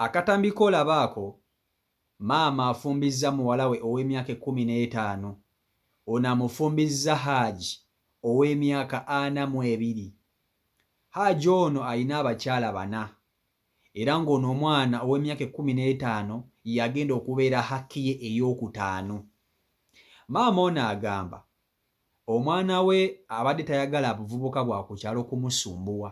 Akatambi k'olaba ako, maama afumbizza muwala we ow'emyaka ekkumi n'etaano, ono amufumbizza Haji ow'emyaka ana mu ebiri. Haji ono alina abakyala bana era ng'ono omwana ow'emyaka ekkumi n'etaano y'agenda okubeera Hakiye ey'okutaano. Maama ono agamba omwana we abadde tayagala buvubuka bwa ku kyalo kumusumbuwa,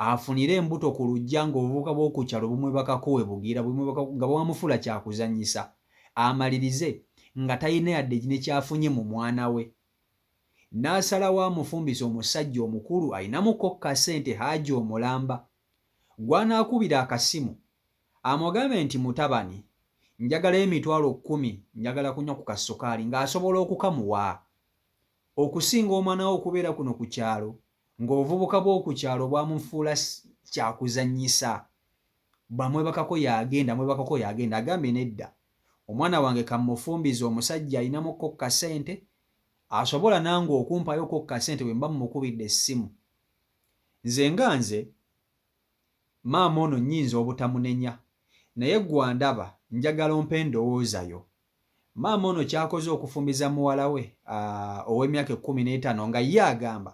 afunire embuto ku luggya ng'obuvubuka bw'oku kyalo bumwebakako we bugira bumwebakako nga bwamufuula kya kuzannyisa amalirize nga talina yadde ne ky'afunye mu mwana we n'asalawo amufumbise omusajja omukulu alinamuko ka ssente Haji omulamba. gw'anaakubira akasimu amugambe nti mutabani njagala emitwalo kkumi njagala kunywa ku kassukaali ng'asobola okukamuwa. Okusinga omwana we okubeera kuno ku kyalo ng'obuvubuka bw'oku kyalo bwamufuula kyakuzannyisa bamwebakako y'agenda mwebakako y'agenda agambye nedda omwana wange kammufumbize omusajja ayinamukko ku kasente asobola nange okumpayoko ku kasente bwe mba mmukubidde essimu Nze nga nze, maama ono nyinza obutamunenya naye gwe andaba njagala ompe endowooza yo. Maama ono kyakoze okufumiza muwala we owemyaka ekumi netano nga ye agamba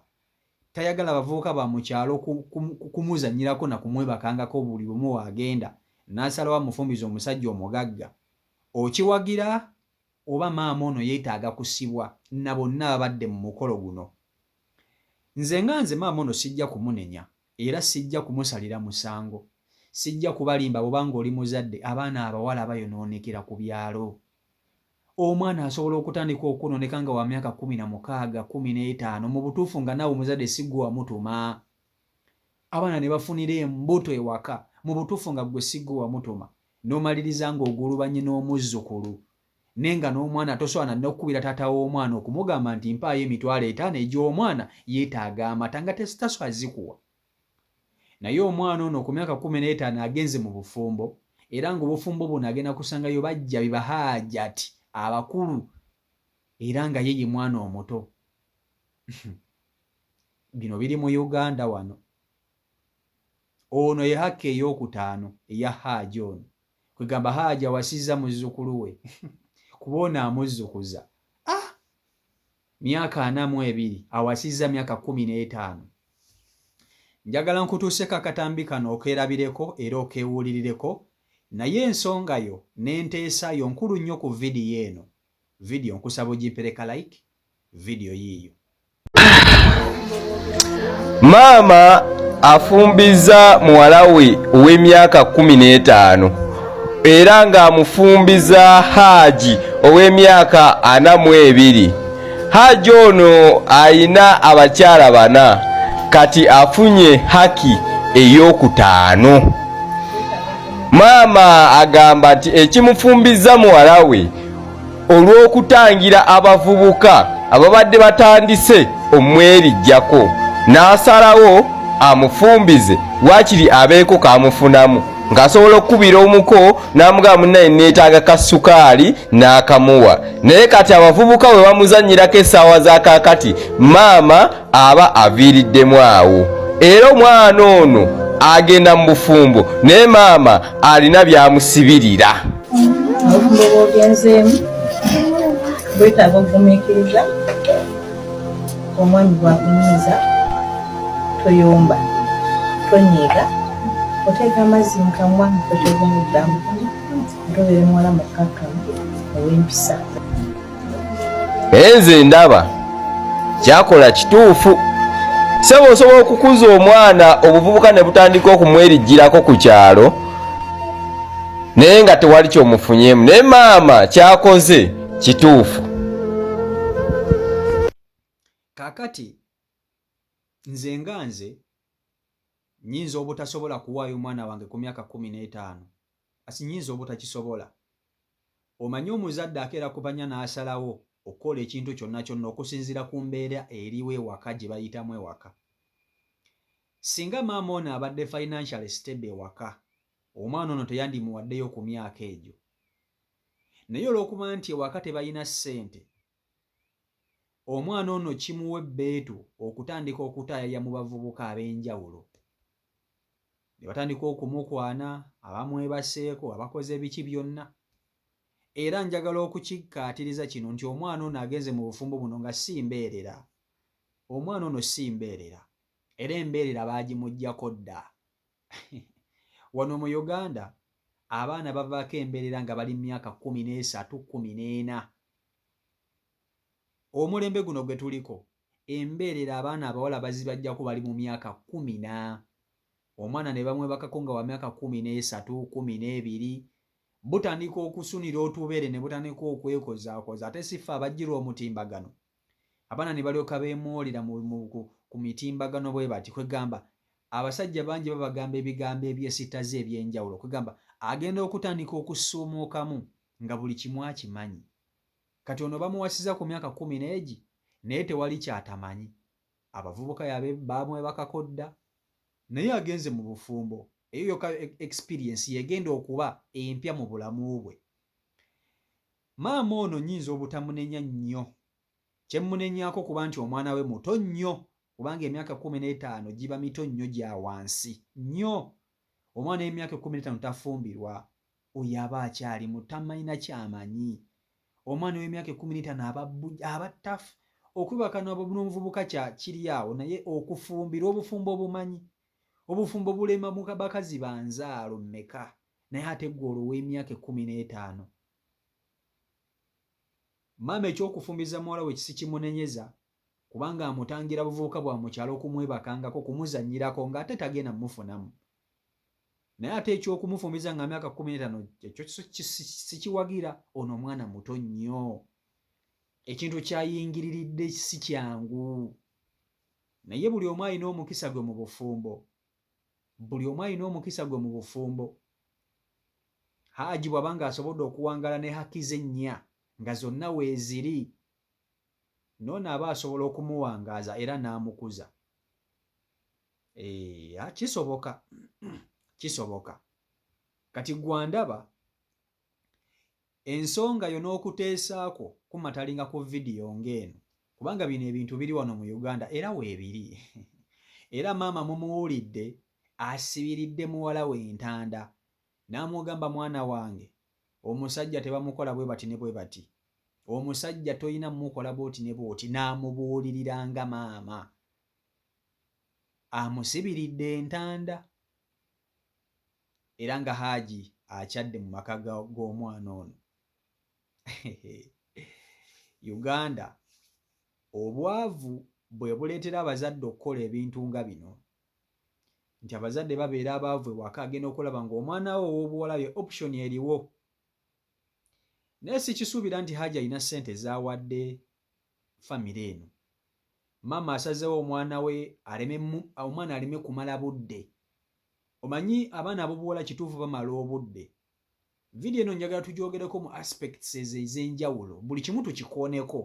tayagala bavubuka bamukyalo kumuzanyirako nakumwebakangako buli lumu wagenda nasalawo amufumize omusajja omugagga. Okiwagira oba maama ono yetaaga kusibwa nabonna ababadde mumukolo guno? Nze nga nze maama ono sijja kumunenya era sijja kumusalira musango. Sijja kubalimba bwoba nga oli muzadde abaana abawala bayonoonekera ku byalo. Omwana asobola okutandika okwonooneka nga wa myaka kkumi na mukaaga, kkumi n'etaano mu butuufu nga naawe omuzadde si gwe wamutuma. Abaana ne bafunira embuto ewaka mu butuufu nga ggwe si gwe wamutuma n'omaliriza ng'ogulubanye n'omuzzukulu ne nga n'omwana tosobola na n'okukubira taata w'omwana okumugamba nti mpaayo emitwalo etaano egy'omwana yeetaaga amata nga tasobola zikuwa naye omwana ono ku myaka kumi n'etaano agenze mu bufumbo era ng'obufumbo buno agenda kusangayo bajja be bahaajati abakulu era nga ye ye mwana omuto bino biri mu uganda wano ono ye hakka eyokutaano eya haaji ono kwegamba haaji awasizza muzzukulu we kuba ono amuzzukuza ah! myaka ana mu ebiri awasizza myaka kumi n'etaano njagala nkutuuseko akatambi kano okerabireko era okewulirireko naye ensonga yo n'enteesa yo nkulu nnyo ku vidiyo eno video nkusaba ojimpereka like video yiyo maama afumbiza muwala we ow'emyaka kumi n'etaano era ng'amufumbiza haaji ow'emyaka ana mu ebiri haaji ono alina abakyala bana kati afunye haki ey'okutaano maama agamba nti ekimufumbiza muwala we olw'okutangira abavubuka ababadde batandise omwebijjako n'asalawo amufumbize waakiri abeeko kaamufunamu ng'asobola okukubira omuko n'amugamba munnaye neetaaga ka sukaali n'akamuwa naye kati abavubuka bwe bamuzannyirako essaawa za kaakati maama aba aviiriddemu awo era omwana ono agenda mu bufumbo naye maama alina byamusibirira obufumbo bwogenzeemu bwetaaga okugumiikiriza omwami bwakunyiiza toyomba tonyiiga oteeka amazzi mu kamwa oteeka omuddamu ntobeere muwala mukkakkamu ow'empisa naye nze ndaba kyakola kituufu sebo osobola okukuza omwana obuvubuka ne butandika okumwerijjirako ku kyalo naye nga tewali kyomufunyemu naye maama kyakoze kituufu kakati nze nga nze nyinza obutasobola kuwaayo omwana wange ku myaka kumi n'etaano Kati nnyinza obutakisobola. Omanyi, omuzadde akeera ku bannya n'asalawo okukola ekintu kyonna kyonna okusinziira ku mbeera eriwo ewaka, gye bayitamu ewaka. Ssinga maama ono abadde financially stable ewaka, omwana ono teyandimuwaddeyo ku myaka egyo. Naye olw'okuba nti ewaka tebalina ssente, Omwana ono kimuwa ebbeetu okutandika okutaayaya mu bavubuka ab'enjawulo ne batandika okumukwana, abamwebaseeko, abakoze biki byonna era njagala okukikkaatiriza kino nti omwana ono agenze mu bufumbo buno nga si mbeerera. Omwana ono si mbeerera era embeerera baagimuggyako dda. wano mu uganda abaana bavaako embeerera nga bali mu myaka kumi n'esatu kumi n'ena omulembe guno gwe tuliko embeerera abaana abawala bazibajjako bali mu myaka kumi na omwana ne bamwebakako nga wa myaka kumi n'esatu kumi n'ebiri butandika okusunira otubeere ne butandika okwekozaakoza ate siffe abajjirwa omutimbagano Abaana ne balyoka beemoolera ku mitimbagano bwe bati, kwegamba abasajja bangi babagamba ebigambo ebyesittaza eby'enjawulo kwegamba agenda okutandika okusuumuukamu nga buli kimu akimanyi. Kati ono bamuwasiza ku myaka kkumi n'egi naye tewali kyatamanyi. Abavubuka yabe baamwebakako dda naye agenze mu bufumbo eyo yoka experience yegenda okuba empya mu bulamu bwe. Maama ono nyinza obutamunenya nnyo kyemunenyako kuba nti omwana we muto nnyo kubanga emyaka ekkumi n'etaano giba mito nnyo gya wansi nnyo. Omwana ow'emyaka ekkumi n'etaano tafumbirwa. Oyo aba akyali muto tamalina kyamanyi. Omwana ow'emyaka ekkumi n'etaano aba aba ttaf. Okwebaka n'omuvubuka kya kiri awo naye okufumbirwa obufumbo obumanyi. Obufumbo bulema bakazi ba nzaalo mmeka? naye ate gwe olwo ow'emyaka ekkumi n'etaano. Maama eky'okufumbiza muwala we sikimunenyeza kubanga amutangira buvubuka bwa mu kyalo okumwebakangako, okumuzannyirako ng'ate tagenda mufunamu. Naye ate eky'okumufumbiza nga myaka kkumi n'etaano ekyo sikiwagira, ono omwana muto nnyo. Ekintu ky'ayingiriridde si kyangu. Naye buli omu alina omukisa gwe mu bufumbo. Buli omu alina omukisa gwe mu bufumbo. Haji bw'aba ng'asobodde okuwangaala ne haki ze ennya nga zonna weeziri, n'ono aba asobola okumuwangaaza era n'amukuza. Eeh, kisoboka, kisoboka. Kati ggwe andaba ensonga yo n'okuteesa kwo kumatalinga ku vidiyo ng'eno kubanga bino ebintu biri wano mu Uganda era weebiri era maama mumuwulidde asibiridde muwala we entanda n'amugamba mwana wange omusajja tebamukola bwe bati ne bwe bati omusajja tolina mukola bwoti ne bwoti n'amubuulirira nga maama amusibiridde entanda era nga haaji akyadde mu maka g'omwana ono uganda obwavu bwe buleetera abazadde okukola ebintu nga bino nti abazadde babeera abaavu ewaka agenda okulaba ng'omwana we ow'obuwala ye option eriwo naye sikisuubira nti haaji alina ssente zaawadde famire eno maama asazewo omwana we aleme omwana aleme kumala budde omanyi abaana abobuwala kituufu bamala obudde vidiyo eno njagala tugyogereko mu aspects ezo ez'enjawulo buli kimu tukikooneko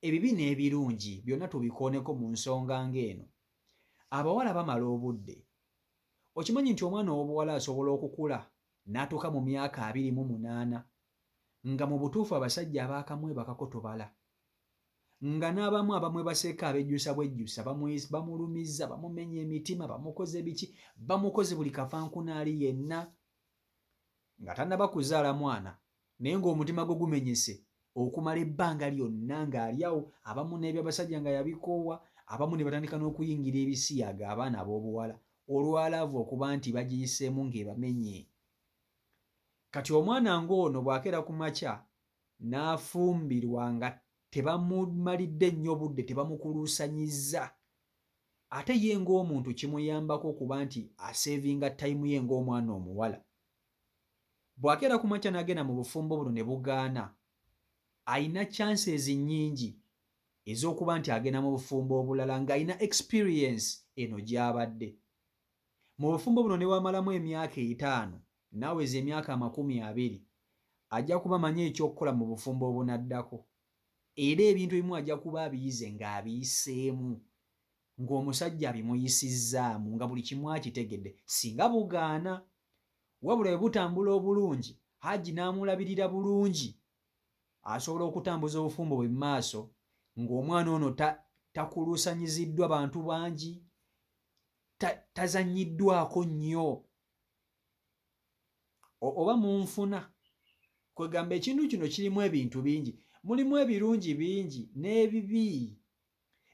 ebibi n'ebirungi byonna tubikooneko mu nsonga ng'eno abawala bamala obudde okimanyi nti omwana ow'obuwala asobola okukula n'atuuka mu myaka abiri mu munaana nga mu butuufu abasajja abaakamwebakako tubala nga n'abamu abamwebaseeko abejjusa bwejjusa bamulumiza bamumenya emitima bamukoze biki bamukoze buli kafankunaali yenna nga tannaba kuzaala mwana naye ng'omutima gwe gumenyese okumala ebbanga lyonna ng'ali awo abamu n'ebyabasajja nga yabikoowa abamu ne batandika n'okuyingira ebisiyaga abaana ab'obuwala olwalaavu okuba nti bagiyiseemu ng'ebamenye kati omwana ng'ono bw'akeera ku makya n'afumbirwa nga tebamumalidde nnyo budde tebamukuluusanyizza ate ye ng'omuntu kimuyambako okuba nti aseevinga tayimu ye ng'omwana omuwala bw'akeera ku makya n'agenda mu bufumbo buno ne bugaana alina chances nnyingi ez'okuba nti agenda mu bufumbo obulala ng'alina experience eno gy'abadde mu bufumbo buno ne bwamalamu emyaka etaano Naweza emyaka amakumi abiri, ajja kuba amanyi eky'okukola mu bufumbo obunaddako, era ebintu ebimu ajja kuba abiyize ng'abiyiseemu, ng'omusajja abimuyisizzaamu, nga buli kimu akitegedde. Singa bugaana, wabula bwe butambula obulungi, Haji n'amulabirira bulungi, asobola okutambuza obufumbo bwe mu maaso ng'omwana ono ta, takuluusanyiziddwa bantu bangi, ta, tazannyiddwako nnyo oba munfuna kwegamba ekintu kino kirimu ebintu bingi mulimu ebirungi bingi n'ebibi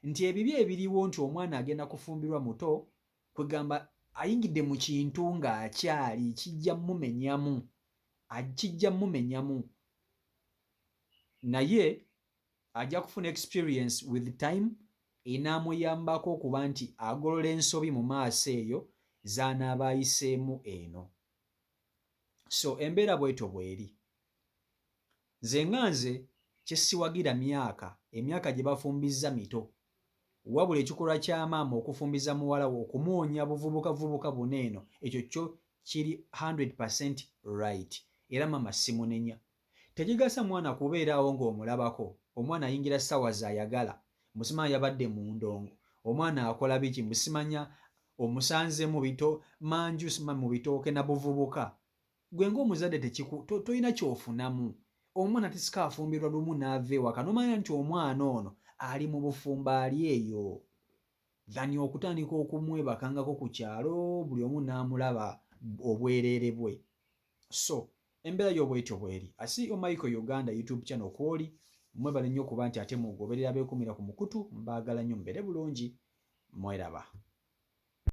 nti ebibi ebiriwo nti omwana agenda kufumbirwa muto kwegamba ayingidde mu kintu ng'akyali kijja mumenyamu kijja mumenyamu naye Ajja kufuna experience with time enaamuyambako okuba nti agolola ensobi mu maaso eyo z'anaaba ayiseemu eno. So embeera bwetyo bweri. Nze nga nze kyesiwagira myaka, emyaka gye bafumbizza mito. Wabula ekikolwa kya maama okufumbiza muwala we okumuwonya buvubuka vubuka buno eno ekyo kyo kiri 100% right era maama simunenya. Tegigasa mwana kubeera awo nga omulabako, omwana ayingira sawa zayagala, mbu simanya yabadde mundongo, omwana akola biki mbu simanya omusanze mubito manju sima mubitooke nabuvubuka, gwe nga omuzadde tekiku to toyina kyofunamu, omwana tisika afumbirwa lumu nava ewaka nomanya nti omwana ono ali mubufumbo ali eyo than okutandika okumwebakangako kukyalo buli omu namulaba obwerere bwe. so embeera yo bwetyo bweri asi omaiko uganda youtube channel kwoli mwebale nnyo kuba nti ate mugoberera bekumira ku mukutu mbagala nnyo mubere bulungi mweraba